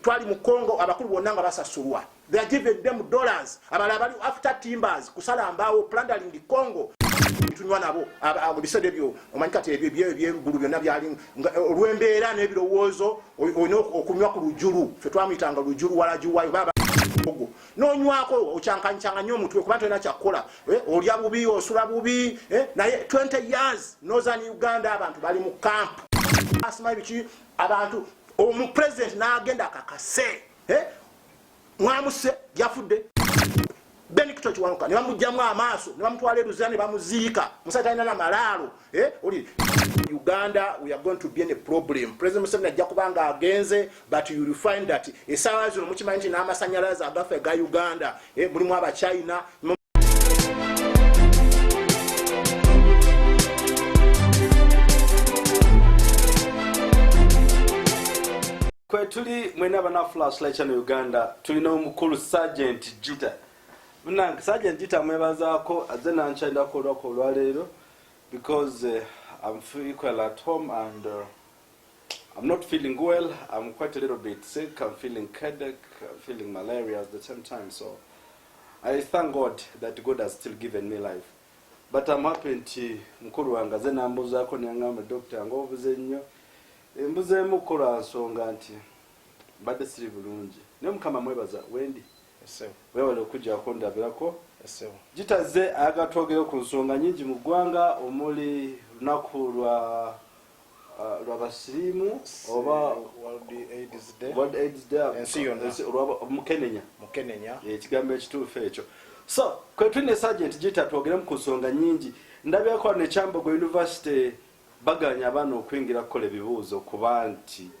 twali mu congo abakulu bonna nga basasulwa they are given them dollars abala abali after timbers kusala mbaawo plundering the congo tunywa nabo ebiseera ebyo omanyi kati ebyo ebyo ebyengulu byonna byali olw'embeera n'ebirowoozo olina okunywa ku lujulu fe twamuyitanga lujulu walajuwayo baba ogo nonywako okyankanyikyanga nyo omutwe kuba tolina kyakukola eh, olya bubi osula bubi eh, naye 20 years nozani uganda abantu bali mu camp asima ebiki abantu omu president nagenda akakase eh? mwamuse yafudde benikito kiwanuka ne bamugyamu amaaso ne bamutwala eruzira ne bamuziika musajja talina na malaalo eh? oli uganda we are going to be in a problem president museveni ajja kuba nga agenze but you will find that esaawa zino mukimanyi nti n'amasanyalaze agafe ga uganda eh, mulimu abachina kwetuli mwena bana flash light channel uganda tulina omukulu sergeant jita munange sergeant jita mwebazaako aze nankyalirako olwako olwaleero because uh, i'm feel equal at home and uh, I'm not feeling well. I'm quite a little bit sick. I'm feeling headache. I'm feeling malaria at the same time. So I thank God that God has still given me life. But I'm happy nti mukulu wange aze nambuzaako nengamba doctor nga obuze nnyo embuzeemu kukola nsonga nti mbadde siri bulungi naye mukama mwebaza wendi wewale okujjako ndabirako gitaze ayagala twogere ku nsonga nyingi mu ggwanga omuli lunaku lwa lwabasirimu oba world aids day ensi yonna mukenenya mukenenya ekigambo ekituufu ekyo so kwetuli ne sergeant gita twogeremu ku nsonga nyingi ndabyako ne kyambogo university baganya abaana okuyingira kukola ebibuuzo kuba nti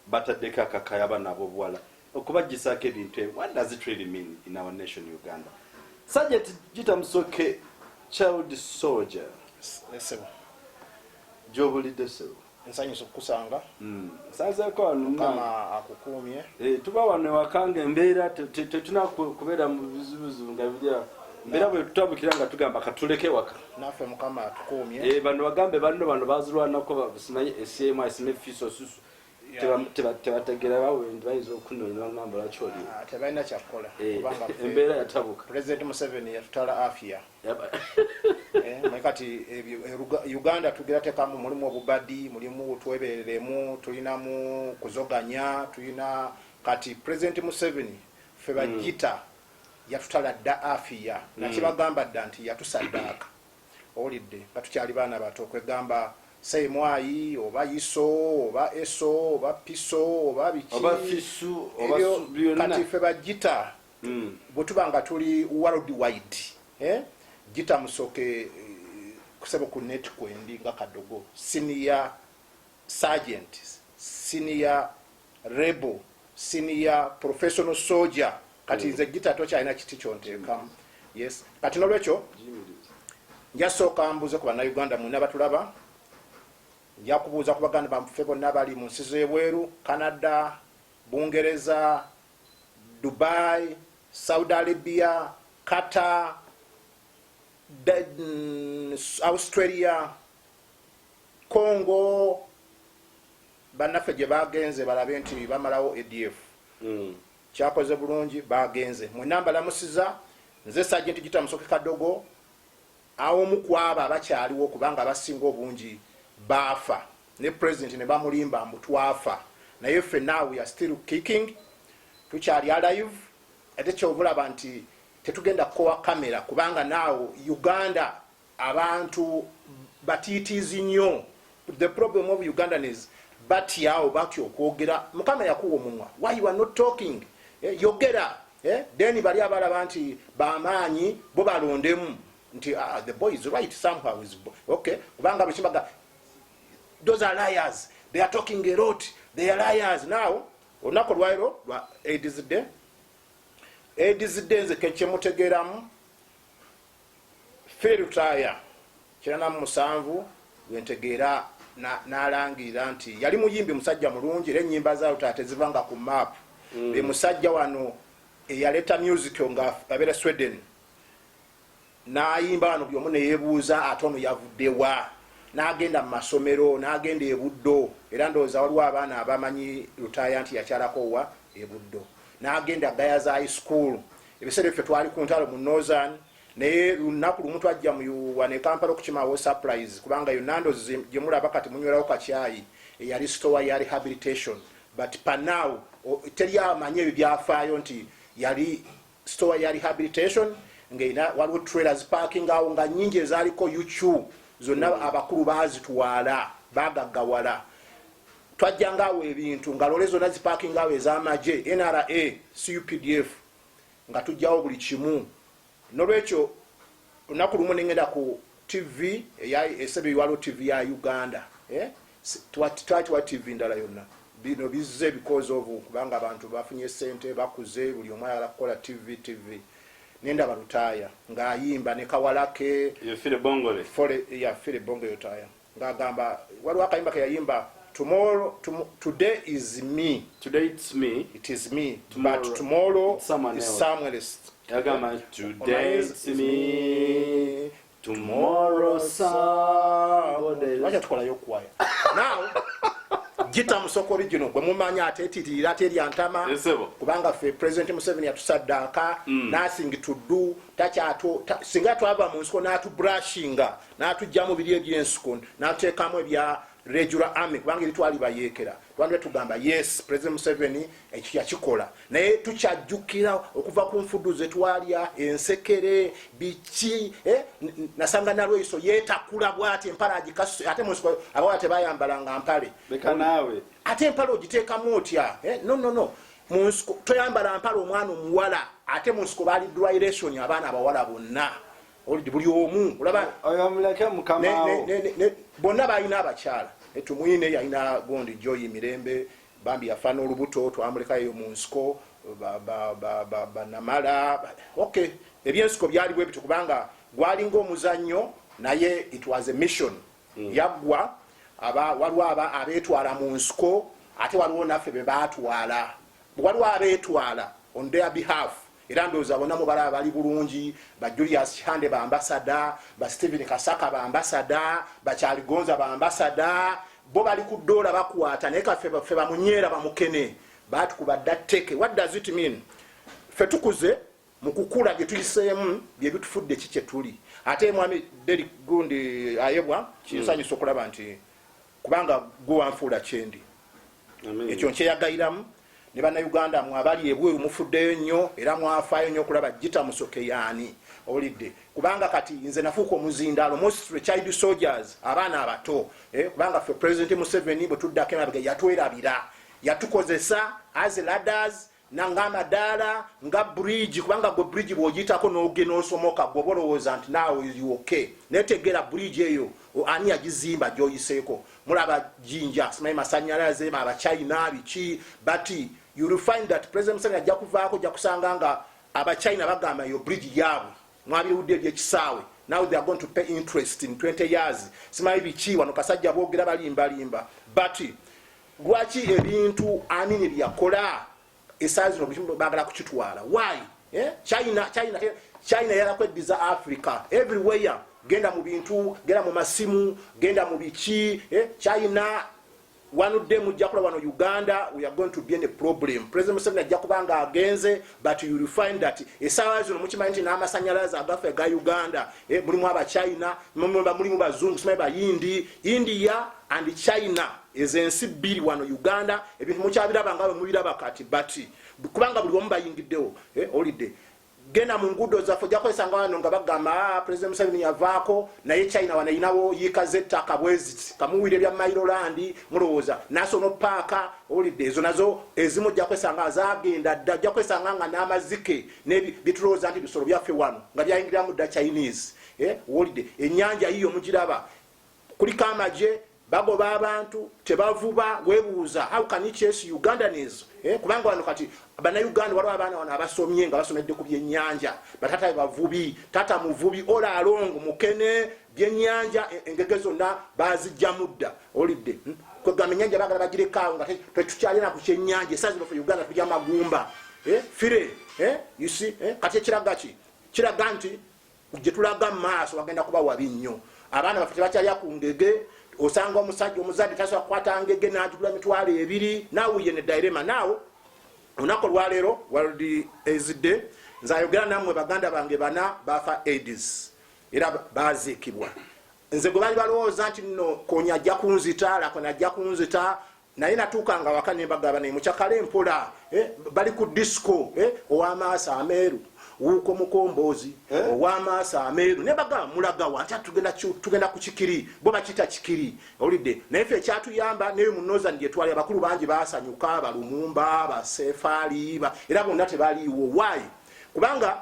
Bataddeko akakayi abaana abobuwala okubajjisaako ebintu ebyo what does it really mean in our nation Uganda Sergeant Gita Musoke child soldier Sebo gyobulidde sebo nsanyusa okukusanga hmm. nsanzeeko wano mukama akukuumye eh, tuba wano ewaka nga embeera tetuna kubeera mu bizibuzibu nga birya mbeera bwe tutambukira nga tugamba katuleke waka naffe mukama atukuumye eh, bano bagambe banno bano bazirwanako simanyi esyemu asime fiso susu tebategera bawendi bayinza okunonyera namba lwaki oli ah, tebalina kyakukola eh, embeera yatabuka president museveni yatutala afia eh, naye kati eh, uganda tugera tekamu mulimu obubadi mulimu twebereremu tulinamu kuzoganya tulina kati president museveni fe bajita hmm. yatutala dda afia hmm. nakibagamba dda nti yatusaddaaka Owulidde nga tukyali baana bato kwegamba say mwayi oba yiso oba eso oba piso oba biki oba fisu oba su kati fe ba jita mm. bwetuba nga tuli world wide eh? jita musoke eh, kusebo ku net kwendi nga kadogo senior sergeant senior Rebel, senior, professional soldier kati nze gita tokyalina kiti kyontekamu yes kati nolwekyo njasooka mbuuze ku bannayuganda mwena batulaba nja kubuuza ku baganda bamuffe bonna bali mu nsi z'ebweru canada bungereza dubai saudi arabia kata mm, australia congo Bannaffe gye baagenze balabe nti bamalawo ADF. Kyakoze bulungi baagenze. Mwenna mbalamusiza. Nze Sajenti Gita Musoke Kadogo, a omu ku abo abakyaliwo kubanga abasinga obungi baafa ne Pulezidenti ne bamulimba mbu twafa naye ffe now we are still kicking, tukyali alive ate kyova olaba nti tetugenda kukowa camera kubanga now Uganda Abantu batiitiizi nnyo. The problem of Ugandan is batya oba batya okwogera. Mukama yakuwa omumwa. Why you are not talking? Eh, yogera. Eh, then bali abalaba nti bamaanyi bo balondemu nti uh, uh, the boy is right somehow is okay kubanga bwekibaga those are liars they are talking a lot they are liars now olunaku olwairo lwa aids day aids day nze kekyemutegeeramu Phil Lutaaya, kirana mu musanvu, gwe ntegeera n'alangirira nti yali muyimbi musajja mulungi era ennyimba za Lutaaya tezivanga ku map. Mm. Be musajja wano eyaleeta music nga abeera Sweden n'ayimba wano buli omu ne yeebuuza ate ono yavuddewa n'agenda mu masomero n'agenda e Buddo era ndowooza waliwo abaana abamanyi Lutaaya nti yakyalako wa e Buddo n'agenda Gayaza High School ebiseera ebyo ffe twali ku ntalo mu northern naye lunaku lumu twajja muyuwa ne kampala okukimawo surprise kubanga yo nando gyemulaba kati munywerawo kakyayi eyali stowa ya rehabilitation but panaw teri amanyi ebyo byafaayo nti yali stowa ya rehabilitation ngaina waliwo trailer ziparking awo nga nyingi ezaliko uq zonna abakulu bazitwala bagaggawala twajjanga awo ebintu nga lole zona zipakinga awo ezamagye nra cupdf nga tujjawo buli kimu nolwekyo olunaku lumu nengenda ku tv esebe iwalo tv ya uganda eh? twatiwa tv ndala yonna bino bizze because of kubanga abantu bafunye sente bakuze buli omu ayagala kukola tv tv nenda balutaya nga ayimba ne kawalake yafire bongole fole yafire bongo yotaya nga agamba waliwo akayimba keyayimba tomorrow tom, today is me today it's me it is me tomorrow, but tomorrow it's someone is someone else yagamba today it's me tomorrow somebody else wacha tukolayo kwaya now gita musoko original gwe mumanya ate etitirira ate eryantama kubanga fe president museveni yatusaddaaka mm. nothing to do takyato ta, singa twava mu nsiko n'atubrushinga n'atujjamu biri eby'ensuku n'ateekamu ebya regular army kubanga eri twalibayeekera twandibadde tugamba yes president museveni ekyo yakikola naye tukyajjukira okuva ku nfudu ze twalya ensekere biki eh, nasanga nalweyiso yetakula bwati empale agikasu ate munsiko abawala tebayambalanga mpale ate empale ogiteekamu otya eh, no no no munsiko toyambala mpale omwana omuwala ate munsiko baali dryration abaana abawala bonna oludi buli omu olaba oyo muleke mukamaawo bonna balina abakyala tumwine yalina gondi joyi mirembe bambi yafa n'olubuto twamuleka eyo mu nsiko banamala ok ebyensiko byali bwe bityo kubanga gwalinga omuzannyo naye it was a mission mm. yaggwa aba waliwo aba abeetwala mu nsiko ate waliwo naffe be baatwala waliwo abeetwala on their behalf era ndowooza bona mubalaba bali bulungi ba julius kihande bambasada ba stephen kasaka bambasada bakyaligonza bambasada bo bali ku doola bakwata naye kafe fe bamunyeera bamukene batukuba dda teke what does it mean fe tukuze mu kukula bye tuyiseemu bye bitufudde ki kye tuli ate mwami deri gundi ayebwa kinsanyusa okulaba nti kubanga gwe wanfuula kyendi ekyo nkyeyagayiramu ne bannayuganda mwe abali ebweru mufuddeyo nnyo era mwafaayo nnyo okulaba jita musoke yaani owulidde kubanga kati nze nafuuka omuzindaalo mostly child soldiers abaana abato eh, kubanga ffe president museveni bwe tuddako emabega yatwerabira yatukozesa as ladders nangamba daala nga bridge kubanga gwe bridge bwogitako nogena osomoka gwoba olowooza nti naawe ok naye tegeera bridge eyo ani yagizimba gyoyiseeko mulaba jinja simanyi masanyalaze abachina biki but you will find that president museveni ajja kuvaako ojja kusanga nga abachina bagamba eyo bridge yaabwe mwabiwudde ebyekisaawe now they are going to pay interest in 20 years simanyi biki wano kasajja boogera balimbalimba but lwaki ebintu amini byakola esaa zino buli bagala kukitwala why eh? china china eh? china yalakweddiza africa everywhere genda mu bintu genda mu masimu genda mu biki eh? china wanudde mujja kula wano uganda we are going to be in a problem president museveni ajja kuba nga agenze but you will find that esaawa zino mukimanyi nti n'amasanyalaze agaffe ga uganda eh, mulimu abachina mulimu bazungu simanyi bayindi india and china ezo ensi bbiri wano uganda ebintu mukyabiraba nga bwemubiraba kati but kubanga buli omu bayingiddewo eh, olidde genda mu nguudo zaffe ojja kwesanga wano nga bagamba ah, president museveni yavaako naye china wanayinawo yiika zettaka bweziti kamuwira ebya mairolandi mulowooza nasono paaka olidde ezo nazo ezimu ojja kwesanga azagenda dda ojja kwesanga nga n'amazike nebitulowooza nti bisolo byaffe wano nga byayingiramu dda chinese eh, olidde enyanja yiyo mugiraba kuliko amagye bagoba abantu tebavuba webuuza how can you chase ugandans eh, kubanga wano kati banauganda waliwo abaana wano abasomye nga basomedde ku byenyanja batata bebavubi tata muvubi ola along mukene byenyanja e, engege zonna bazijja mudda olidde hmm? kwegamba enyanja bagala bagirekaawo nga tetukyalina ku kyenyanja esazino fe uganda tulya magumba eh, fire eh, you see kati ekiraga ki kiraga nti gyetulaga maaso wagenda kuba wabi nnyo abaana baffe tebakyalya ku ngege osanga omusajja omuzadde tasobola kukwata ngege nagigula mitwalo ebiri nawuye ne dairema naawo olunaku olwaleero world aids day nzayogera nammwe baganda bange bana bafa aids era baziikibwa nze gwe bali balowooza nti no konya ajja kunzita lakona ajja kunzita naye natuukanga waka ne mbagaba naye mucakale mpola eh, bali ku disco eh, ow'amaaso ameeru wuuko mukomboozi eh? owamaaso ameeru naye bagamba mulagawa nti tugenda ku kikiri bo bakita kikiri owulidde naye fe ekyatuyamba naye munozan gyetwali abakulu bangi basanyuka abalumumba abasefaaliiba era bonna tebaliiwo waayi kubanga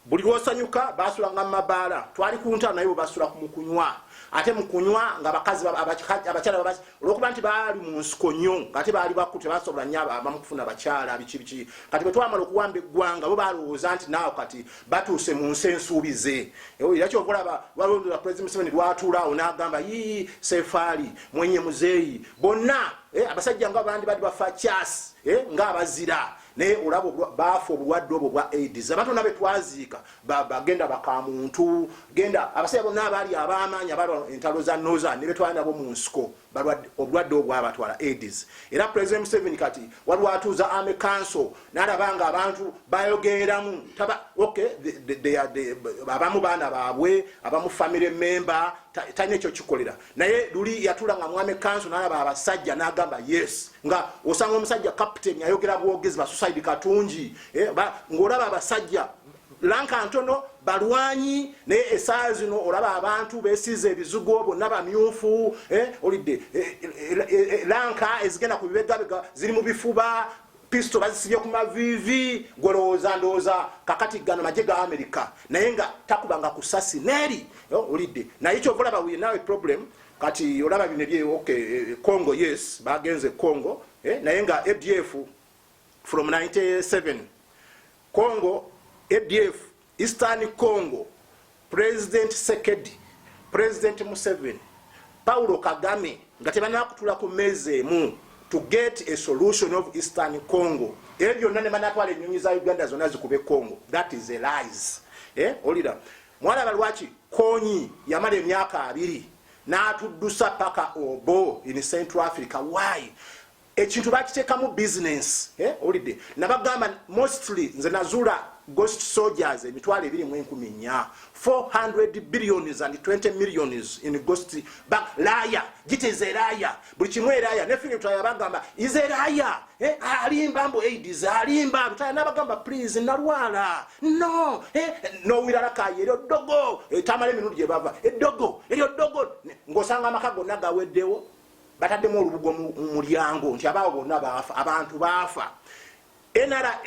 buli lwosanyuka basulanga mumabaala twali kuntalo naye bwebasula mukunywa ate mukunywa nga bakazi abakyala olwokuba nti baali munsiko nyo ate baali baku tebasobola nyo abamukufuna bakyala bikibiki kati bwetwamala okuwamba eggwanga bo balowooza nti naawo kati batuuse mu nsi ensuubize era kyova olaba balondola pulezidenti museveni lwatuulaawo n'agamba yii sefaali mwenye muzeeyi bonna eh, abasajja nga bandi badi bafa kyasi eh, nga abazira Naye olaba baafa obulwadde obwo bwa aids abantu bona betwaziika bagenda bakamuntu genda abasajja bonna abaali abamaanyi abalwa entalo za nozan nebetwala nabo mu nsiko obulwadde obwo bwabatwala aids era president museven kati waliwo atuuza ame kanso nalaba nga abantu bayogeeramu taba ok abamu baana baabwe abamu family member talina ekyo kikolera naye luli yatula nga mwami kanso nalaba abasajja nagamba yes nga osanga omusajja captain ayogera bwogezi basusaidi katungi eh, ngaolaba abasajja lanka ntono balwanyi naye esaa zino olaba abantu besiza ebizugo bonna bamyufu eh, olidde eh, lanka ezigenda ku bibegabega ziri mu bifuba Pisto bazisibye ku maviivi gwolowooza ndowooza kakati gano maje ga Amerika naye nga takubanga ku sasi neeri olidde naye kyova olaba wuye naawe problem kati olaba bino ebye ok eh, Congo yes bagenze Congo eh, naye nga ADF from 97 Congo ADF Eastern Congo, President Sekedi, President Museveni, Paulo Kagame nga tebanakutula ku meeza emu to get a solution of Eastern Congo. Ebyo byonna ne banatwala ennyonyi za Uganda zonna zikube Congo. That is a lies. Eh, olira. Mwalaba lwaki Konyi yamala emyaka abiri n'atuddusa paka obo in Central Africa. Why? ekintu bakitekamu business eh olide nabagamba mostly nze nazula ghost soldiers emitwalo ebiri mu enkumi nya 400 billions and 20 millions in ghost bank laya giteze laya buli kimu eraya ne fili tutaya bagamba ize laya eh alimba mbo aid is alimba tutaya nabagamba please nalwala no eh no wirala kaye ero dogo etamale eh, minudi ebava edogo eh, ero dogo ngosanga makago nagawedewo bataddemu olubugo mu mulyango nti abaawo bonna baafa abantu baafa nra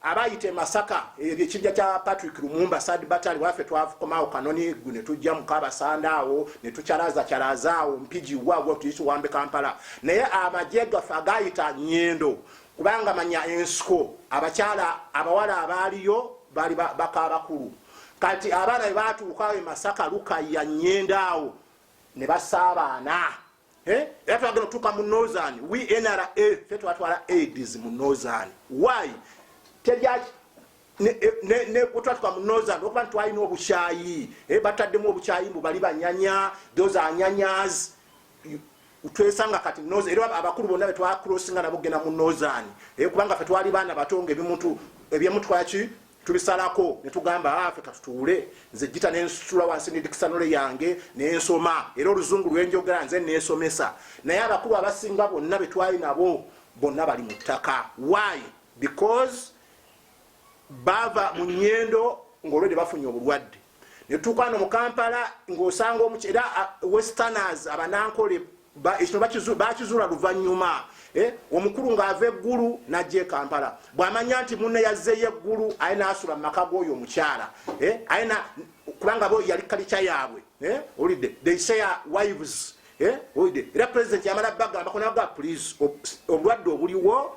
abayita emasaka ebyo ekibja kya patrick lumumba sad batali wafe twakomawo kanoni gu netujja mukabasanda awo netukyalaza kyalaza awo mpigi wagwa tuyisa owambe kampala naye amagye gaffe agayita nyendo kubanga manya ensiko abakyala abawala abaaliyo bali bakabakulu kati abaana bebatuukawo emasaka lukaya nyendo awo ne basaabaana eh? era twagenda otuuka mu northern we nra fe twatwala aids mu northern why tejaki netwatuka mu northern okuba nti twalina obukyayi eh, bataddemu obukyayi mbu bali banyanya those are nyanyas twesanga kati era abakulu bonna betwakrosinga nabo kugenda mu northern eh, kubanga fe twali baana bato nga ebimuntu ebyemutwaki tubisalako ne tugamba afe ah, katutuule nze jita nensitula wansi ne dikisanole yange nensoma era oluzungu lwenjogera nze nesomesa naye abakulu abasinga bonna betwali nabo bonna bali mu ttaka why because bava mu nyendo ngaolwedde bafunye obulwadde netutuuka no mukampala ngaosanga omuky era uh, westerners abanankole ekino bakizuula luvanyuma eh, omukulu ngaava eggulu najja ekampala bwamanya nti mune yazzeyo eggulu aye nasula mumaka goyo omukyala eh, aye kubanga bo yali kalikya yaabwe eh, olidde they say wives olidde era president yamala bagamba konaga please obulwadde obuliwo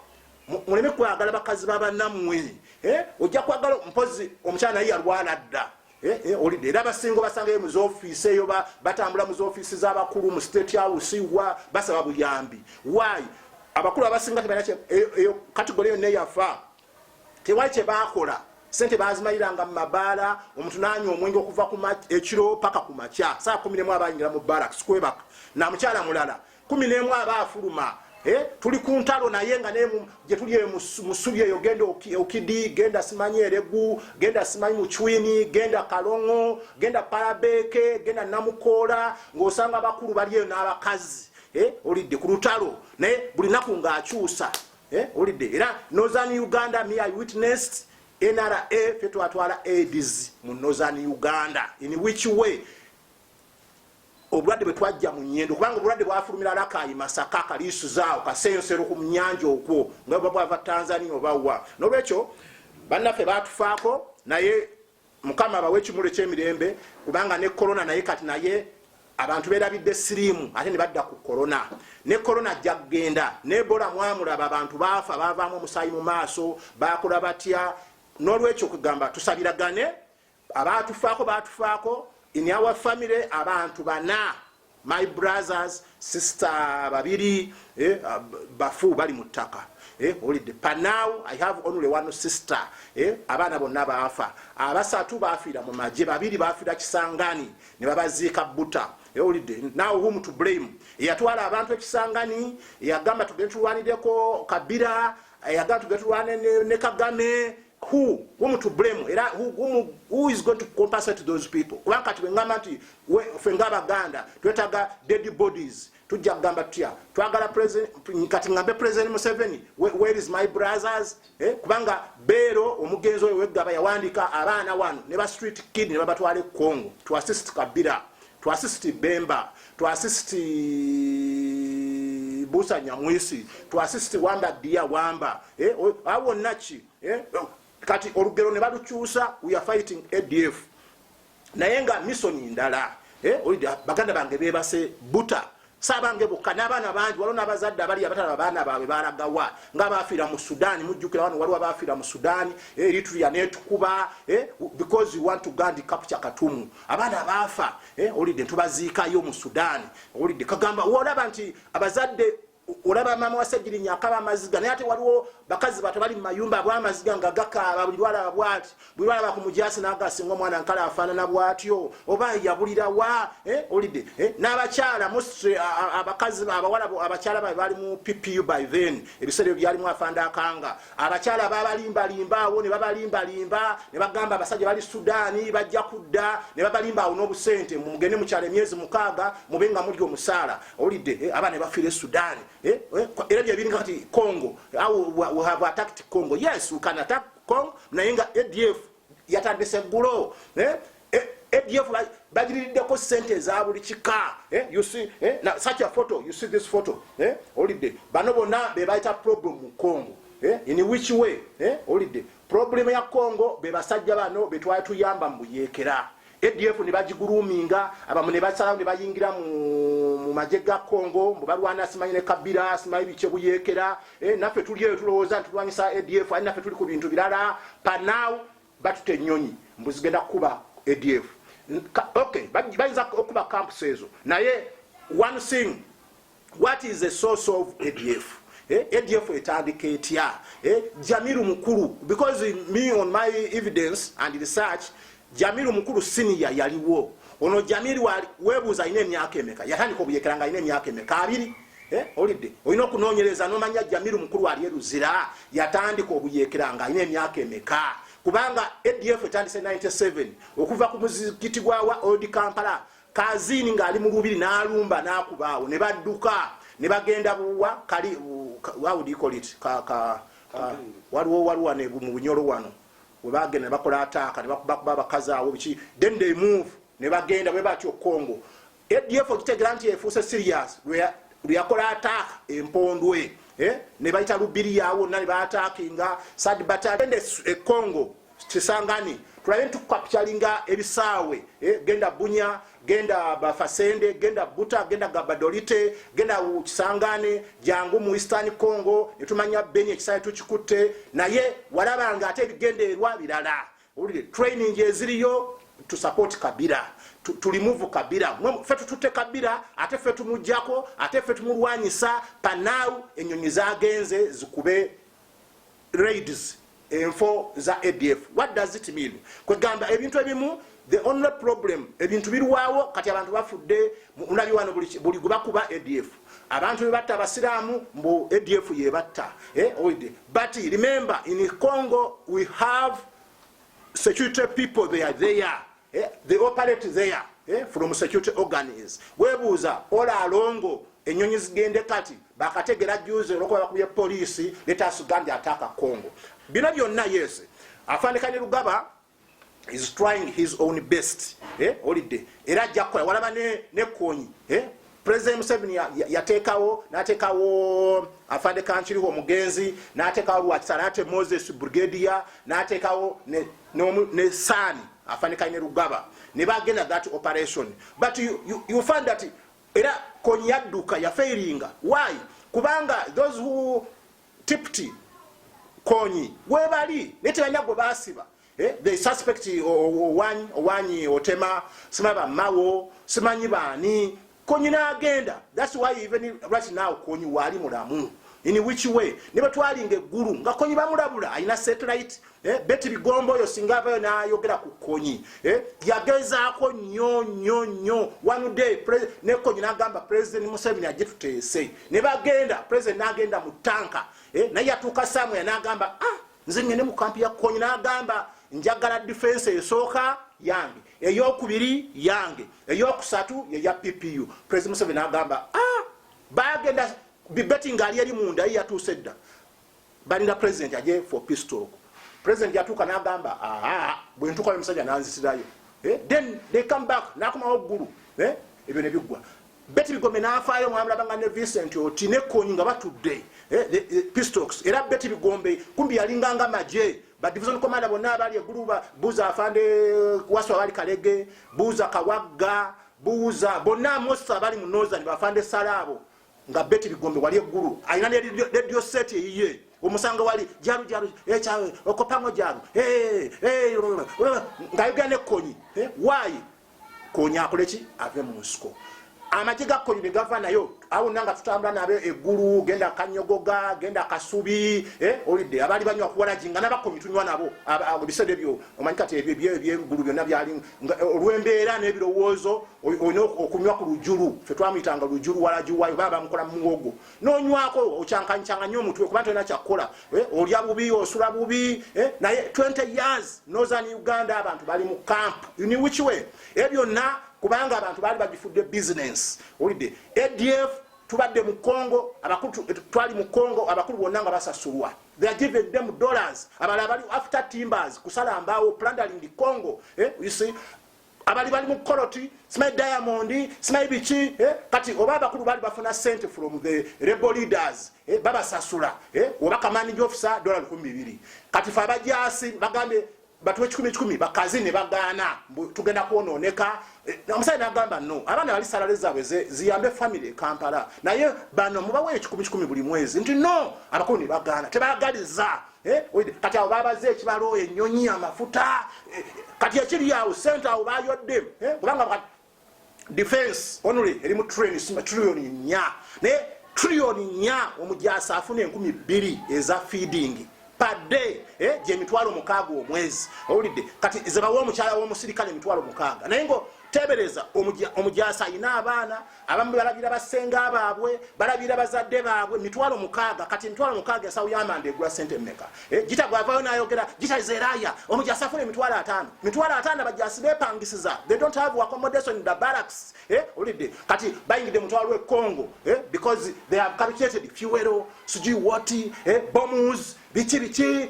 muleme kwagala bakazi babanamwe eh, ojja kwagala mpozi omukyala naye yalwala dda eh, eh, olidde era abasinga obasangayo mu zoofiisi eyo batambula mu zoofiisi z'abakulu mu state house wa basaba buyambi wayi abakulu abasinga tebaeyo kategole yonna eyafa tewali kyebakola sente bazimaliranga mu mabaala omuntu nanywa omwenge okuva ekiro paka ku makya saa kumi nemu abayingira mu barak sikwebaka namukyala mulala kumi nemu aba afuluma eh, tuli ku ntalo naye nga gyetuli eyo musubi eyo genda okidi genda simanyi eregu genda simanyi mucwini genda kalongo genda parabeke genda namukoola ngaosanga abakulu bali eyo n'abakazi eh, olidde ku lutalo naye buli naku ngaakyusa eh, olidde era northern uganda mi i witnessed nra fe twatwala aids mu northern uganda in which way obulwadde bwe twajja mu nyendo kubanga obulwadde bwafulumira lakayi masaka kaliisuzaawo kaseyosero ku munyanja okwo nga buba bwava tanzania oba wa nolwekyo bannaffe batufaako naye mukama abawe ekimulu ekyemirembe kubanga ne korona naye kati naye abantu berabidde siriimu ate ne badda ku korona ne korona ajja kugenda nebola mwamulaba abantu baafa bavaamu omusaayi mu maaso bakola batya n'olwekyo kugamba tusabiragane abaatufaako baatufaako in our family abantu bana my brothers sister babiri eh, bafu bali mu ttaka eh, olidde panaw i have only one sister eh, abaana bonna baafa abasatu baafiira mu magye babiri baafiira kisangani ne babaziika buta ewulidde eh, now whom to blame eyatwala abantu ekisangani eyagamba tugende tulwanireko kabira eyagamba tugende tulwane ne kagame who whom to blame era who, whom, who is going to compensate those people kuba kati bwengamba nti fe nga abaganda twetaga dead bodies tujja kugamba tutya twagala kati ngambe president museveni where is my brothers eh? kubanga beero omugenzi oyo weggaba yawandiika abaana wano ne ba street kid ne babatwala e congo to assist kabira to assist Bemba, to assist Busa Nyamwisi, to assist Wamba Dia Wamba. Eh, awo nachi. Eh, kati olugero ne balukyusa we are fighting ADF. Naye nga mission ndala. Eh, baganda bange bebase buta sabange bokka n'abaana bangi waliwo n'abazadde abali abatalaba baana baabwe balagawa nga baafiira mu sudaani mujjukira wano waliwo abaafiira mu sudaani eh, eritria netukuba eh, because you want to gand kapca katumu abaana abaafa eh, olidde ntubaziikayo mu sudaani olidde kagamba olaba nti abazadde olaba maama wasegirinya akaba amaziga naye ate waliwo bakazi bato bali mumayumba abwamaziga nga gakaaba buli lwalaba bwati bwewalaba ku mujaasi nagasinga omwana nkala afaanana bwatyo oba yabulirawa eh, olidde eh, n'abakyala mostly abakazi abawala abakyala bae bali mu ppu by then ebiseera ebyo byalimu afanda akanga abakyala babalimbalimba awo ne babalimbalimba ne bagamba abasajja bali sudaani bajja kudda ne babalimba awo n'obusente mugende mukyala emyezi mukaaga mube nga mulya omusaala olidde eh, abaana ne bafiira e sudaani era byebiringa kati congo awo we have attacked congo yes we can attack Kong naye nga ADF yatandise ggulo eh, eh, ADF bagiririddeko sente eza buli kika eh, you see eh, na, such a photo you see this photo eh, olidde bano bonna be bayita problem mu Congo eh, in which way eh, olidde problem ya Congo be basajja bano betwali tuyamba mu buyekera ADF ne bagiguluminga abamu ne basalawo ne bayingira mu mu magye ga Congo mbu balwana simanyi ne Kabila simanyi biche buyekera eh, naffe tuli eyo tulowooza nti tulwanyisa ADF ali naffe tuli ku bintu birala panaw batute ennyonyi mbu zigenda kukuba ADF okay bayinza okuba camps ezo naye one thing what is the source of ADF eh, ADF etandika etya eh, Jamiru mukulu because me on my evidence and research Jamiru mukulu senior yaliwo ono Jamiru wali webuza ine myaka emeka yatandika obuyekera nga ine myaka emeka abiri eh, olidde olina okunoonyereza nomanya Jamiru mukulu wali eruzira yatandika obuyekera nga ine myaka emeka kubanga ADF etandise 97 okuva ku muzikiti gwa wa old Kampala Kazini ng'ali mu lubiri n'alumba n'akuba awo ne badduka ne bagenda buwa kali wawudikolit kaka waliwo waliwo ne mu bunyolo wano we bagenda ne bakola ataaka ne bakuba abakazi awo biki then they move ne bagenda bwe batyo Congo ADF okitegeera nti efuuse serious lweyakola ataaka empondwe eh, ne bayita lubiri yawo nna ne baataakinga sad batagende e Congo kisangani tulabe ntukukapitalinga ebisaawe eh, genda bunya genda bafasende genda buta genda gabadolite genda kisangane jangu mu eastern congo netumanya beni ekisaawe tukikutte naye walabanga ate ebigendererwa birala olire training eziriyo tusupport kabira tulimuvu kabira fe tututte kabira ate fe tumujjako ate fe tumulwanyisa panawu enyonyi zagenze zikube raids enfo za ADF what does it mean kwegamba ebintu ebimu the only problem ebintu birwawo kati abantu bafudde mulabi wano buli gwebakuba ADF abantu bebatta abasiraamu mbu ADF yebatta eh, but remember in Congo we have security people they are there eh, they operate there eh, from security organs webuuza ola alongo enyonyi zigende kati bakategera juze olwokuba bakubye poliisi letasugandi ataaka congo bino byonna yes afanika ne lugaba is trying his own best eh, olidde era ajja kukola walaba ne, ne konyi eh, President Museveni yatekawo natekawo afande kankiriho omugenzi natekawo lwakisa nate Moses Brigadier natekawo ne, ne, ne Sani afande kaine Rugaba ne bagenda that operation but you, you, you find that era konyaduka ya failing why kubanga those who tipti konyi webali netebanya gwe basiba Eh, they suspect owanyi owanyi otema sima ba mawo simanyi bani konyi na agenda that's why even right now konyi wali mulamu in which way ne batwali nge guru nga konyi bamulabula ayina satellite eh beti bigombo yo singava yo na yogera ku konyi eh yageza ko nyo nyo nyo one day president ne konyi na gamba president museveni ajitutese ne bagenda president na agenda mutanka eh na yatuka samwe na gamba ah nze ngende mu kampi ya kony nagamba njagala difensi esooka yange eyokubiri yange eyokusatu yeya ppu president museven nagamba a ah, bagenda bibeti nga ali eri munda ye yatuuse dda balinda president aje for pistok president yatuuka nagamba aa bwentukayo musajja nanzisirayo eh, then they come back nakomawo ggulu eh, ebyo nebiggwa Betty Bigombe n'afaayo mwamulaba nga ne Vincent Oti ne Kony nga batudde eh, the, the Pistox era Betty Bigombe kumbi yalinga nga magye ba division commander bonna abaali eggulu buuza afande eh, wasu abaali kalege buuza kawagga buuza bonna amosi abaali mu nozani bafande salaabo nga Betty Bigombe wali eggulu alina ne radio set eyiye omusango wali jaru jaru ekyawe eh, okopango jaru eh, eh, ngayogera ne Kony waayi konya akole ki ave mu nsiko amagi ga konya ne gava nayo awo nanga tutambula nabe eggulu genda kanyogoga genda kasubi eh, olidde abali banywa kuwalagi nga nabakomi tunywa nabo ebiseera ebyo omanyi kati ebyengulu byonna byali eh, olw'embeera n'ebirowoozo olina okunywa ku lujulu fe twamuyitanga lujulu walagi wayo baba bamukola mu muwogo nonywako okyankanyikyanganya omutwe kuba tolina kyakukola eh, olya bubi osula bubi eh, naye 20 years northern uganda abantu bali mu camp uniwichwe ebyo byonna kubanga abantu baali bagifudde business olidde adf tubadde mu congo abakulu eh, twali mu congo abakulu bonna nga basasulwa they are given them dollars abala bali after timbers kusala mbaawo plundering the congo eh, you see abali bali mu koloti simanyi diamond simanyi biki eh? kati oba abakulu baali bafuna sente from the rebel leaders eh? babasasula eh? oba kamanija ofisa dola lukumi bibiri kati fe abajasi bagambye batuwa ekikumi kikumi bakazi ne bagaana tugenda kwonooneka eh, omusajja nagamba no abaana bali salale zaabwe ziyambe famiry e kampala naye bano mubawa ekikumi kikumi buli mwezi nti no abakulu ne bagaana tebagaliza Eh, kati awo babaze ekibalo enyonyi amafuta eh, kati ekiri awo sente awo bayodde eh, kubanga defense only erimu trillion nya naye trillion nya omujasa afuna enkumi bbiri eza feeding pade gyemitwalo mukaaga omwezi owulidde kati zebawa omukyala womusirikale emitwalo mukaaga naye ngo tebereza omujasa ayina abaana abamu balabira basenga baabwe balabira bazadde baabwe mitwalo mukaaga kati emitwalo mukaaga ensawo yamanda egula sente meka eh, gita gwavayo nayogera gita zeraya omuja asafuna emitwalo ataano mitwalo ataano abajasi bepangisiza they don't have accommodation in the barracks eh, olidde kati bayingidde mutwalo ekongo eh, because they have calculated fuel sijui wati bombs biki biki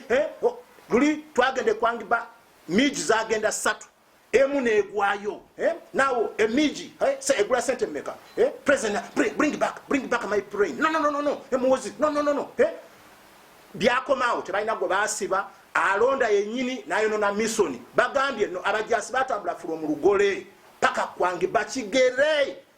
luli twagende kwangiba miji zagenda satu emu negwayo eh? nawo emiji eh? se egula sente meka eh? president bring back bring back my brain no no no no no emuwozi no no no no eh? byakomawo tebalina gwe basiba alonda yenyini nayonona misoni bagambye no abajasi batambula fula omulugole paka kwange bakigere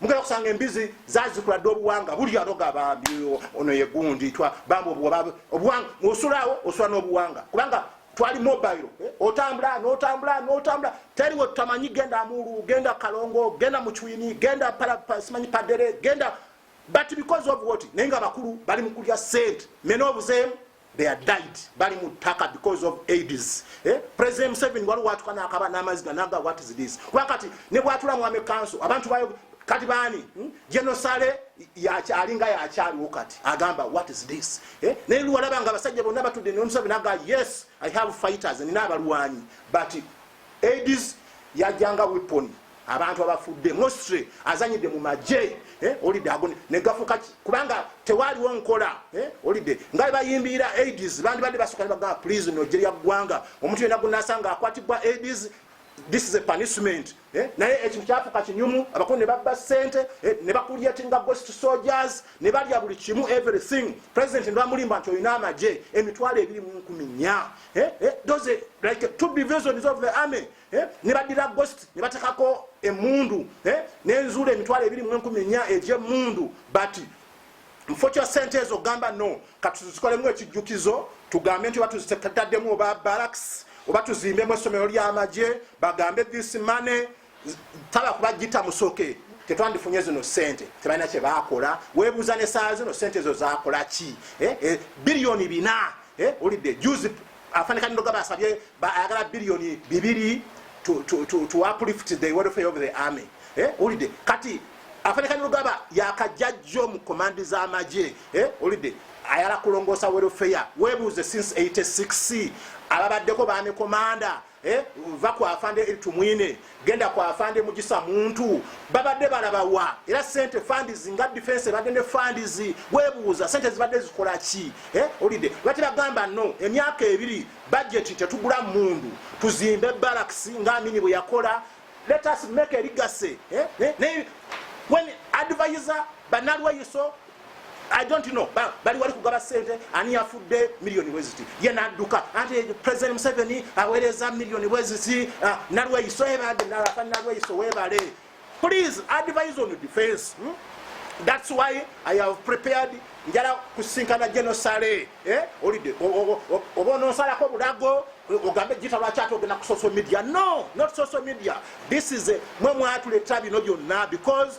mugenda kusanga embizi zazikula dde obuwanga buli anoga bambi ono yegundi bambi obuwanga osulawo osula n'obuwanga kubanga twali mobile eh, otambula notambula notambula teri wetutamanyi genda mulu genda kalongo genda mucwini genda simanyi padere genda but because of what naye nga bakulu bali mukulya sente mena obuzeemu they are died bali mu ttaka because of aids eh? president museveni waliwo watuka nakaba n'amaziga naga what is this kuba kati ne bwatula mwame kanso abantu bayo kati baani hmm? genosale alinga yakyaliwo kati agamba what is this eh? naye luwalaba nga abasajja bonna batudde nomuseveni naga yes i have fighters nina abalwanyi but aids yajjanga weapon abantu abafudde mostly azanyidde mu magye eh, olidde ago negafuka kubanga tewaaliwo nkola eh, olidde nga bayimbiira aids bandibadde basoka nebagaa please nojje lya ggwanga omuntu yena gunasanga akwatibwa aids this is a punishment eh, naye ekintu kyafuka kinyumu abakulu ne babba sente ne bakulyatinga ghost soldiers ne balya buli kimu everything president nebamulimba nti olina amagye emitwalo ebiri mu nkumi nya doze like two divisions of the army Eh, ne baddira ghost ne batekako emundu eh, nenzuula emitwalo ebiri mu enkumi enya egyemundu but mufo kya sente ezo gamba no katuzikolemu ekijjukizo tugambe nti oba tuzitetaddemu oba baraks oba tuzimbemu essomero ly'amagye bagambe this money taba kuba gita musoke tetwandifunye zino sente tebalina kyebakola webuuza nesaa zino sente ezo zakola ki eh, biliyoni bina olidde juzi Afande Kanirugaba asabye ayagala biliyoni bibiri to, to, to, to uplift the welfare of the army eh, ulide kati Afande Kanirugaba yakajjajjo mu komandi z'amagye eh, ulide ayala kulongoosa welfare webuuze since 86 ababaddeko baami komanda Eh, va ku afande eri tumwine genda ku afande mugisa muntu babadde balabawa era sente fandizi nga defense ebadde ne fandizi webuuza sente zibadde zikola ki eh, olidde lwaki bagamba no emyaka ebiri bajeti tetugula mundu tuzimbe baraks nga amini bwe yakola let us make erigase eh, when advisor banalweyiso I don't know ba bali wali kugaba sente ani yafudde milioni weziti ye nadduka ate president Museveni aweereza milioni weziti uh, ah, nalweyiso ebade nalafa nalweyiso webale please advise on defense hmm? that's why I have prepared njala kusinkana General Saleh eh olide oba ononsalako bulago ogambe jita lwaki ate ogenda ku social media no not social media this is a mwe mwatuleta bino byonna because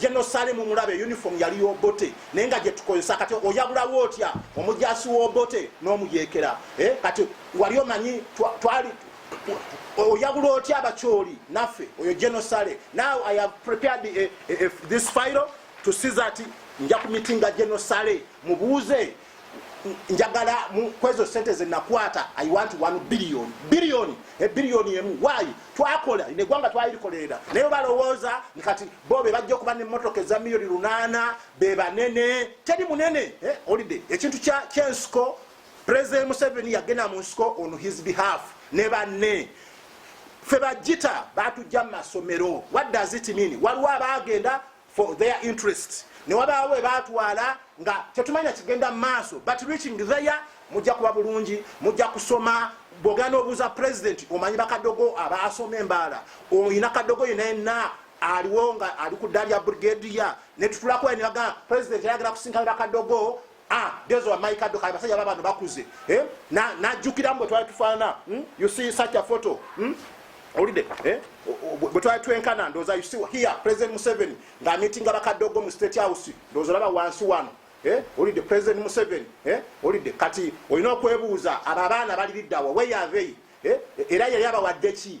General Salim Mulabe uniform yali Obote naye nga gyetukozesa kati oyabulawo otya omujasi wa Obote n'omuyekera eh, kati wali omanyi twali oyabula otya abakyoli naffe oyo General Sale now I have prepared a, eh, a, eh, a, eh, this file to see that nja kumitinga General Sale mubuuze njagala kwezo sente zenakwata i want 1 billion billion ebillioni emu wayi twakola negwanga twalirikolerera naye balowooza nkati bo bebajja okuba nemotoka eza miyoni lunana bebanene teri munene eh, olide ekintu kyensiko president museveni yagenda mu nsiko on his behalf ne banne fe bajita batujja mu masomero what does it mean waliwo abagenda for their interest ne wabaawo ebaatwala nga tetumanya kigenda mu maaso but reaching there mujja kuba bulungi mujja kusoma bwogera n'obuuza president omanyi bakadogo abaasoma embaala oyina kadogo yina yenna aliwo nga ali ku dda lya brigadier netutulakoya nebagamba president ayagala kusinkana bakadogo Ah, those were my kadoka abasajja baba bano bakuze eh na najukira mbo twali tufana hmm? you see such a photo hmm? olide eh bwe twali twenkana ndoza you see here president Museveni nga meeting abakadogo mu state house ndoza laba wansi wano eh olide president Museveni eh olide kati oyina okwebuuza aba baana bali liddawa where are they eh era yali abawadde ki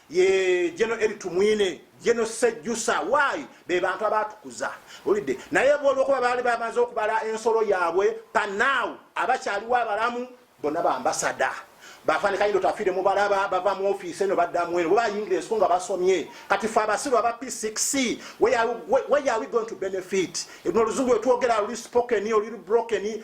ye jeno eri tumwine jeno sejusa wayi be bantu abatukuza olidde naye bolwokuba baali bamaze okubala ensolo yaabwe panaawu abakyaliwo abalamu bonna bambasada bafanika yindo tafire mubalaba bava mu office eno badda mweno baba yingira ensuku nga basomye kati fe abasiru aba p6 where are we going to benefit ebino oluzungu wetwogera luli spoken oluli broken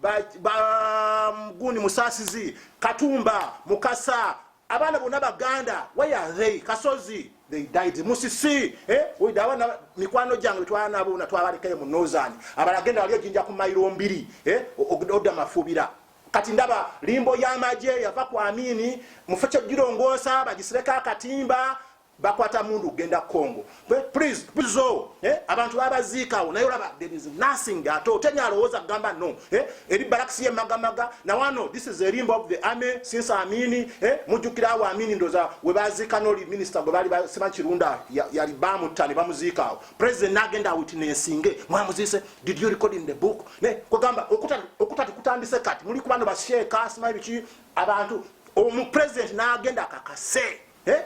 bamgundi ba, musasizi katumba mukasa abaana bonna baganda wayathe kasozi they died musisi eh? abaana mikwano gyange betwala nabo na twabalekayo mu nozani abalagenda wali ojinja ku mairo mbiri eh? odda mafubira kati ndaba limbo yamaje yava ku amini mufekyojirongoosa bagisireko akatimba bakwata mundu genda congo please please oh eh abantu babaziikawo naye olaba there is nothing at all tenya alowooza gamba no eh eri baraks ye magamaga na wano this is a limb of the army since amini eh mujukira awo amini ndoza we baziika no minister gwe bali basema kirunda yali bamu tani bamuziikawo president nagenda witnessinge mwamuzise did you record in the book ne ko gamba okuta okuta kutandise kati muli kubano basheka asima bichi abantu omu president nagenda kakase eh?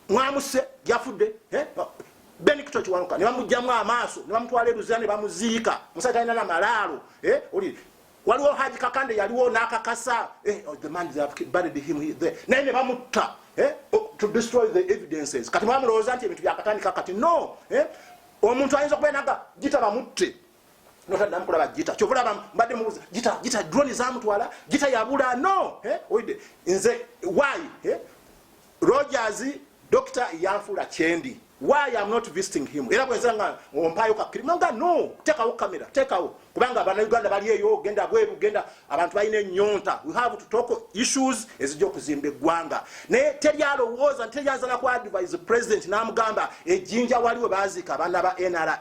mwamusse gyafudde eh? benikito kiwanuka ne bamugjamu amaaso ne bamutwala eruzira ne bamuziika musajja talina na malaalo eh? oli waliwo haji kakande yaliwo n'akakasa eh, oh, the man buried him there naye ne bamutta eh? oh, to destroy the evidences kati mwamulowooza nti ebintu byakatandika kati no eh? omuntu ayinza okubenaga gita bamutte notaddamu kulaba gita kyova olaba mbadde mubuza gita gita drone zamutwala gita yabula no eh, oide nze why eh, rogers doctor yanfula kyendi why am not visiting him era bwenza nga ompayo kakiri nga no tekawo kamera tekawo kubanga abana uganda bali eyo genda bweru genda abantu balina enyonta we have to talk issues ezija okuzimba eggwanga naye teri alowooza nti teri azala ku advise president namugamba ejinja waliwo baziika abaana ba nra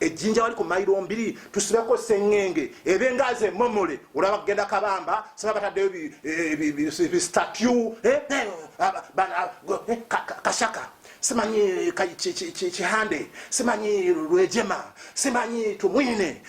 ejjinja wali ku mailo mbiri tusibeko sengenge ebe ngaze momole olaba kugenda kabamba saba bataddeyo bistatue eh, eh, eh, kashaka simanyi kihande simanyi lwejema simanyi tumwine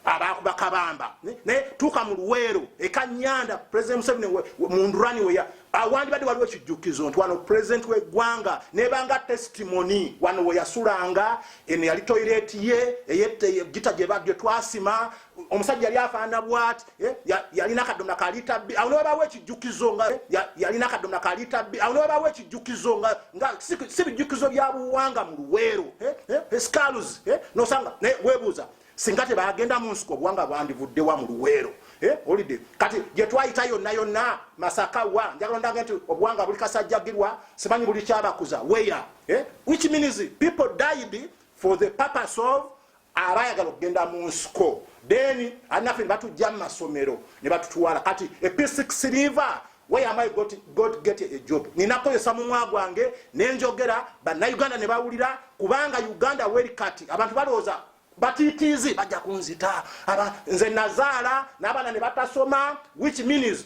abaakuba kabamba naye tuuka mu luweero ekanyanda president museveni mundurani weya awandibadde waliwo ekijjukizo nti wano president weggwanga nebanga testimony wano weyasulanga eno yali toireti ye eyegita gye twasima omusajja yali afaana bwati eh, yalina akadomna kalita bbi awo newabawo ekijjukizo nga eh, yalina akadomna kalita bbi awo newabawo ekijjukizo nga nga si bijjukizo bya buwanga mu luweero eh, scalus nosanga webuuza singa tebagenda mu nsiko obuwanga bwandivudde wa mu luweero eh, olide kati gye twayita yonna yonna masaka wa njagala ondange nti obuwanga buli kasajjagirwa simanyi buli kyabakuza weya eh, which means people died for the purpose of abayagala okugenda mu nsiko then anafe nebatujja mu masomero ne batutwala kati episic siliva why am i got, got get a job ninakozesa mumwa gwange nenjogera banauganda nebawulira kubanga uganda weri kati abantu balowooza batitiizi bajja kunzita aba nze nazaala n'abaana ne batasoma which means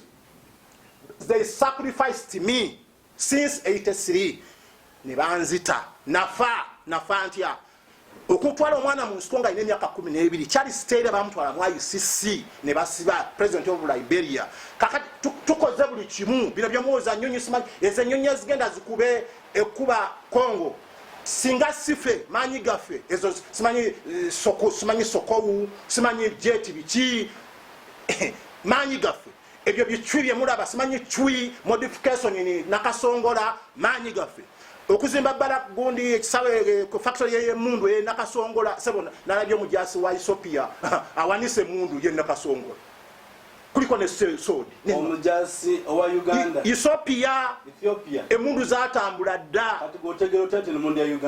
they sacrificed me since 83 ne banzita nafa nafa ntya okutwala omwana mu nsiko nga alina emyaka kumi n'ebiri kyali siteera bamutwala mu icc ne basiba president of liberia kakati tukoze buli kimu bino byomuwoza nyonyi simanyi ezo enyonyi ezigenda zikube ekuba congo singa sife manyi gaffe ezo simanyi eh, soko simanyi sokowu simanyi jeti biki manyi gaffe ebyo bicwi byemulaba simanyi cwi modification ni nakasongola manyi gaffe okuzimba bala gundi ekisawe eh, ku factory ye mundu e nakasongola sebo nalabye omujasi wa isopia awanise mundu ye nakasongola kuliko ne sensood omujaasi owa uganda ethiopia emundu zatambula dda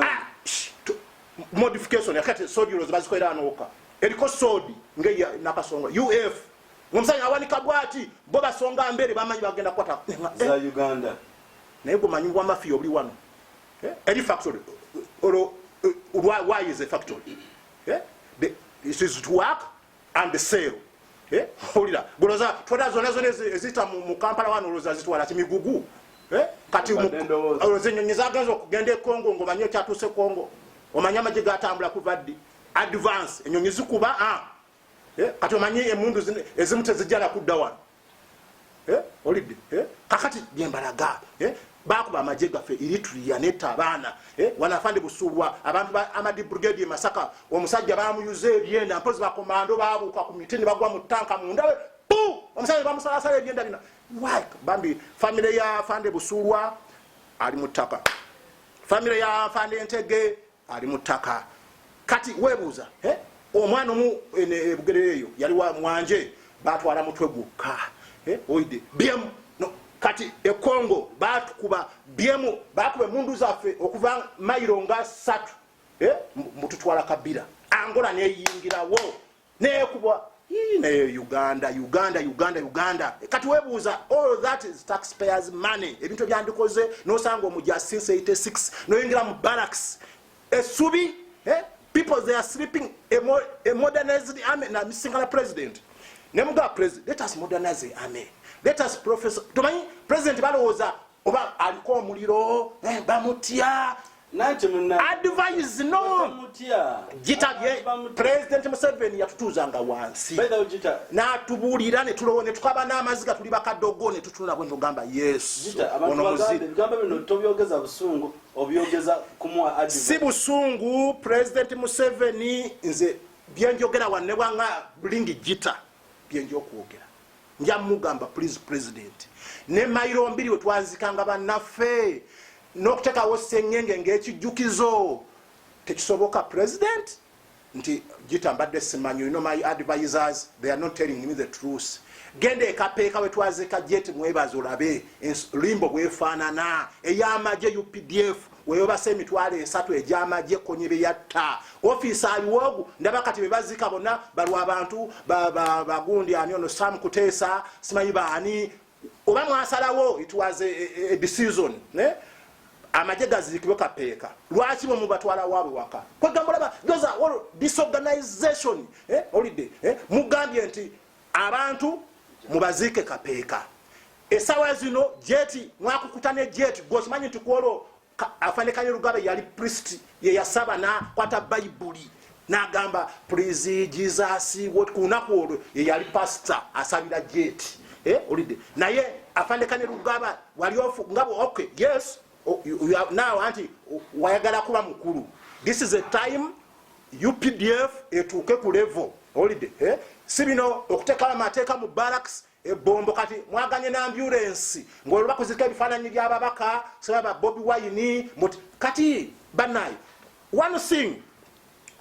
ah, modification yakati sodi ulozi bazikolera anowoka eriko sodi nge nakasonga uf omusajja awanika bwati bo basonga mbere bamanyi bagenda kukwata eh, za eh. uganda naye gumanyi wa mafiya obuli wano eh, eri factory olwo why is a factory it is to work and sale eh holira goloza twada zona zona ezita mu Kampala wano oloza zitwala kimigugu eh kati mu oloze nyonyi zaganzo kugende Kongo ngo manyo kyatuse Kongo omanya maji gatambula kuvaddi advance enyonyi zikuba ah eh kati omanyi emundu ezimutezijala kudda wano eh, olidde eh, kakati byembalaga eh, bakuba amagye gaffe eritria neta abaana eh, wanafande busulwa abantu ba amadi brigade e masaka omusajja bamuyuza ebyenda mpozi bakomando babuuka ku miti ne bagwa mu tanka mundawe pu omusajja bamusalasala ebyenda bina why bambi famire ya fande busulwa ali mu ttaka famire ya fande ntege ali mu ttaka kati webuuza eh? omwana omu ebugerero eh, eyo yali wa mwanje batwala mutwe gwokka eh? oide byemu no. kati ekongo batukuba byemu bakuba emundu zaffe okuva mairo nga satu mututwala kabira angola neyingirawo nekubwa naye uganda uganda uganda uganda kati webuuza all that is taxpayers money ebintu ebyandikoze nosanga omuja since 86 noyingira mu barracks esubi eh? people they are sleeping a, mo a modernized army na singala president nemuga president let us modernize the army let us professor tomanyi president balowooza oba aliko omuliro eh, bamutya advise no gitabye president museveni yatutuuzanga wansi natubuulira netulowo netukaba n'amaziga tuli bakadogo netutunula bwe nogamba yesu si busungu president museveni nze byenjogera wanne bwanga bulingi gita byenja okwogera nja mugamba please president ne mailo mbiri wetwanzikanga banaffe nokutekawo sengenge ngekijjukizo tekisoboka president nti jita mbadde simanyi you know my advisors they are not telling me the truth genda ekapeeka wetwazika jet mwebazi olabe limbo bwefaanana eyamaje updf weyobasa emitwalo esatu egyamagye ekkonye bye yatta ofiisi aliwoogu ndaba kati be bazika bonna balwa abantu bagundi ani ono sam kuteesa simanyi baani oba mwasalawo it was a decision amagye gaziikibwe kapeeka lwaki bwe mubatwala waabwe waka kwegamba olaba those are all disorganization eh, olidde eh, mugambye nti abantu mubaziike kapeeka esawa zino jeti mwakukuta ne jeti gosimanyi nti kwolwo afanekanye lugabe yali priest yeyasaba nakwata bayibuli nagamba please jesus what kunaku olwo yeyali pastor asabira jeti eh, olidde naye afanekanye lugaba wali ofu nga okay yes oh, naawe anti wayagala kuba mukulu this is a time updf etuuke ku level olide eh? si bino okutekawo amateeka mu barracks ebombo kati mwaganye na ambulensi ngaolwo bakuzirika ebifaananyi byababaka sebaba bobi wine mut kati banaye one thing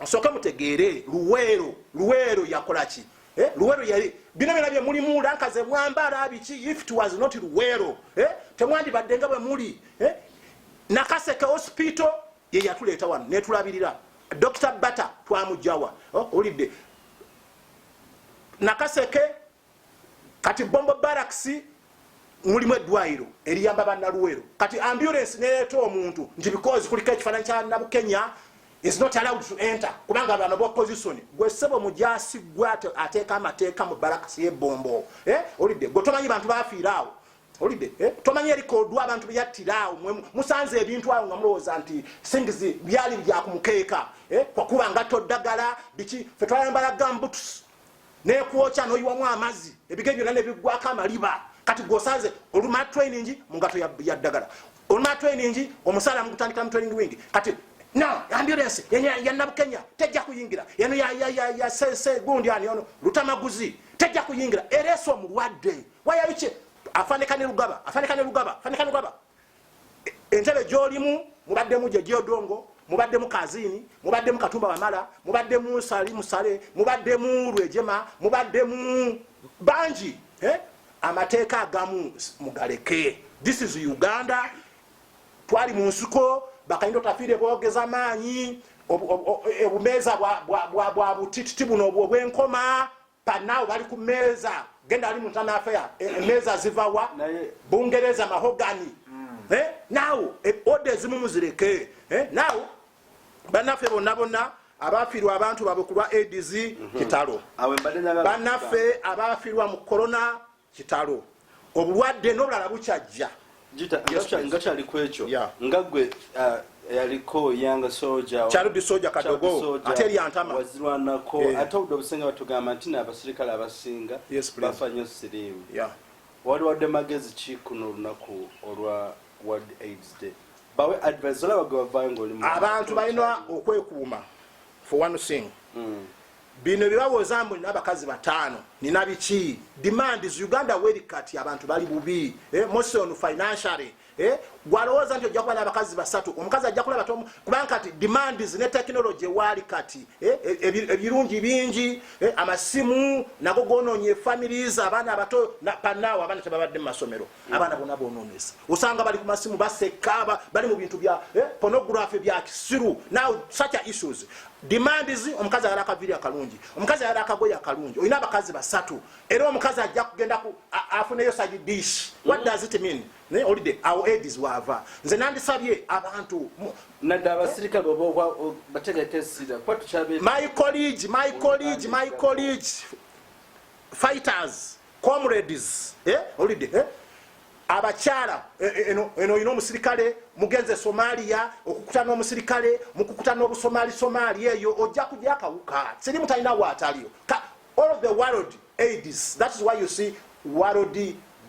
nsooke mutegeere luweero luweero yakolaki eh? luweero yali bino byona byemulimu lanka zemwambala biki if it was not luweero eh? temwandibadde nga bwe muli eh? nakaseke hospital ye yatuleeta wano netulabirira dokita bata twamujawa oh, olidde nakaseke kati bombo baraksi mulimu eddwayiro eriyamba banaluwero kati ambulance neyeta omuntu nti because kuliko ekifananyi kya nabukenya is not allowed to enter kubanga bano ba opposition gwe sebo mujasi gwe ateeka amateeka mu barakasi yebombo eh olidde gwe tomanyi bantu bafiiraawo olide eh? tomanyi erikodwa abantu beyattira awo mwe musanze ebintu awo nga mulowooza nti things byali bya kumukeeka eh? kwakuba ngatto ddagala biki fe twayambala gambuts nekwokya noyiwamu amazzi ebige byonna nebiggwako amaliba kati gwosanze olumala training mu ngatto ya ddagala olumala training omusaala mugutandikira mu training wing kati no ambulance ya nabukenya tejja kuyingira eno ya ya ya ya se se gundi ani ono lutamaguzi tejja kuyingira ereso mulwadde waya biche afanika ne lugaba afanika ne lugaba afanika ne lugaba entebe jolimu mubadde muje jodongo mubadde mu kazini mubadde mu katumba wamala mubadde mu sali musale mubadde mu rwejema mubadde mu banji eh amateeka agamu mugaleke this is uganda twali mu nsuko bakayinda otafiire bogeza maanyi obumeeza bwa butititi buno obwenkoma panao bali ku meeza genda ali muntana afeya e, e, meeza zivawa bungereza mahogani mm. eh, nao e, oda ezimu muzireke eh, nao banaffe bonna bonna abafiirwa abantu babwe kulwa aids mhm. kitalo banaffe abafiirwa mu corona kitalo obulwadde nobulala bukyajja ngakyali kwekyo nga gwe uh, yaliko yanga soja charudi soja kadogo ate lyantama wazirwanako yeah. ate obudde obusinga batugamba nti n'abasirikale abasinga yes, bafa nyo siriimu yeah. wali wadde magezi ki kuno olunaku olwa world aids day bawe advise olaba gwe bavayo ngaolimu abantu balina okwekuuma for one thing mm. bino byebawoza mbu nina abakazi bataano nina biki demands uganda weri kati abantu bali bubi eh, mose on financially eh, gwalowooza nti ojja kuba nabakazi basatu omukazi ajja kulaba kubanga kati demands ne technology waali kati eh, e, e, ebirungi bingi eh, amasimu nago gonoonye families abaana abato panawo abaana tebabadde mu masomero abaana bona bononese osanga bali kumasimu basekaba bali mubintu bya eh, pornography bya kisiru now such a issues demand is omukazi ayala akaviri akalungi omukazi ayala akagoye akalungi olina abakazi basatu era omukazi ajja kugenda afuneyo sagi dish what does it mean naye olide awo edis wava nze nandisabye abantu nadde abasirikale oba bategeka esira kuba tukyabe my college my college my college fighters comrades eh olide eh abakyala eh, eh, eno eno oyina omusirikale mugenze somalia okukuta n'omusirikale mukukuta n'obusomali somali eyo ojja kujja akawuka siri mutalina waataliyo all of the world aids that is why you see world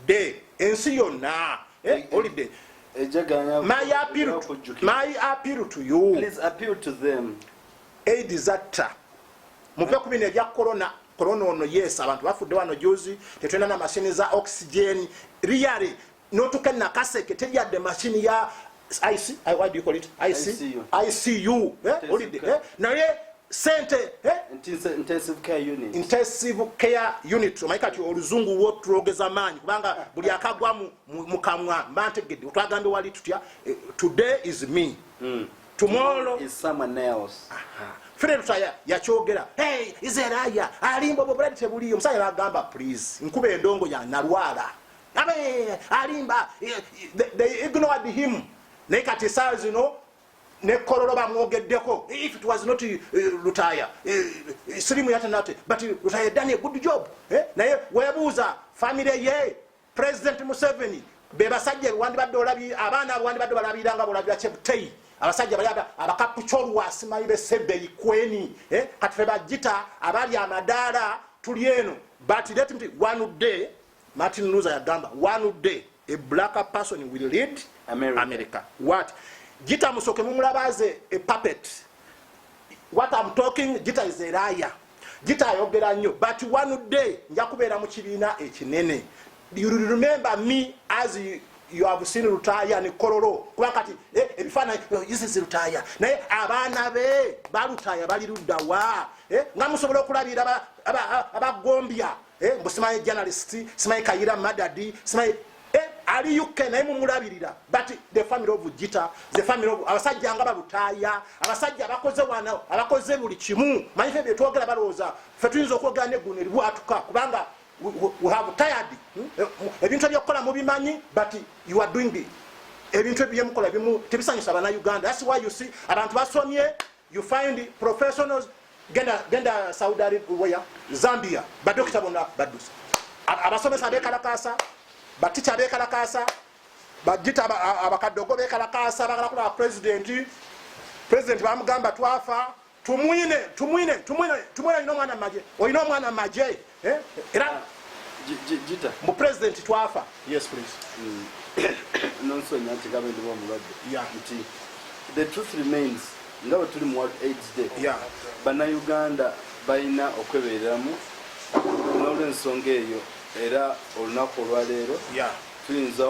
day ensi yonna eh, olide my appeal to, my appeal to you please appeal to them aids atta muve ku bino ebya corona corona ono yes abantu bafudde wano juzi tetulina na mashini za oxygen riyale notuka nakaseke tejadde mashini ya icu olidde eh? eh? naye sente eh? intensive care unit omanyi kati oluzungu wo tulogeza maanyi kubanga buli akagwa mukamwa mba ntegedde otwagambye wali tutya today is me mm. tomorrow is someone else fere tusaya yakyogera hey is a liar alimba bwo buladi tebuliyo musaya bagamba please nkube endongo ya nalwala abe alimba eh, eh, they ignored him naye kati saa zino nekololo bamwogeddeko if it was not eh, lutaya sirimu yatanate but lutaya done a good job naye webuuza family ye President Museveni bebasajja wandibadde olabi abaana abo wandibadde balabira nga bolabira Cheptei abasajja bali abakapucholu asimanyi besebeyi kweni eh? kati febajita abali amadaala tuli eno but let me one day Martin Luther yagamba one day a black person will lead America, America. what jita musoke mumulabaze a puppet what I'm talking jita is a liar Gita ayogera nnyo but one day nja kubeera mu kibiina ekinene. You remember me as you, you have seen Lutaaya ne Kololo kuba kati eh, ebifaananyi no, this is Lutaaya naye abaana be balutaaya bali luddawa eh, nga musobola okulabira abagombya aba, aba, aba, eh, mbu simanyi journalist simanyi kayira madadi simanyi eh, ali uk naye mumulabirira but the family of jita the family of abasajja nga balutaaya abasajja abakoze wana abakoze buli kimu manyi fe byetwogera balowooza fe tuyinza okwogera neguno eribwatuka kubanga we have tired hmm? eh, ebintu ebyokukola mubimanyi but you are doing the ebintu ebyemukola bimu tebisanyusa bana uganda that's why you see abantu basomye you find professionals genda genda saudi arabia zambia badokita bona badusa abasomesa bekalakasa baticha bekalakasa bajita abakadogo bekalakasa bagala kula president president bamugamba twafa tumwine tumwine tumwine tumwine ino mwana maje oyino mwana maje eh? era jita mu president twafa yes please mm. nonsonya nti gabe ndiwo omulwadde nti the truth remains nga bwe tuli mu world aids day bannayuganda balina okwebereramu n'olwensonga eyo era olunaku olwaleero tuyinza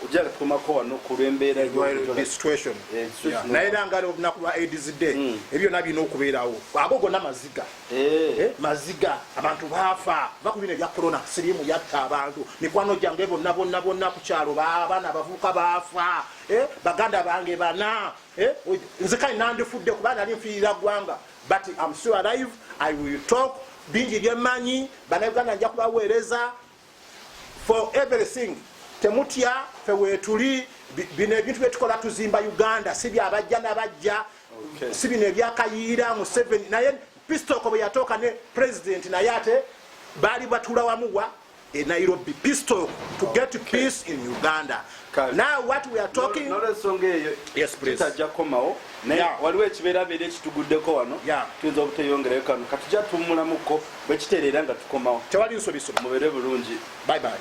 ojala tukomako wano ku lwembeera eh, naye era nga olunaku lwa aids day mm. ebyo byona birina okubeerawo ago gona maziga Eh. Eh, maziga abantu baafa va ku bino ebya korona siriimu yatta abantu mikwano gyange bonna bonna bonna ku kyalo baabana bavubuka baafa eh, baganda bange bana nze kale nandifudde kuba nali nfiirira ggwanga but am sure alive i will talk bingi byemanyi banauganda nja kubaweereza for everything temutya fe wetuli bino ebintu byetukola tuzimba uganda si byabajja nabajja si bino ebyakayiira museven naye pistoko bwe yatooka ne president naye ate baali batula wamuwa e nairobi pistoko to get peace in uganda Now what we are talking no, no, no, yes, please. Tutajja komawo naye yeah. waliwo ekibeerabeera ekituguddeko wano yeah. tuyinza obuteyongerayo kano katujja tuwumulamuko bwe kitereera nga tukomawo tewali nsobiso mubeere bulungi bye bye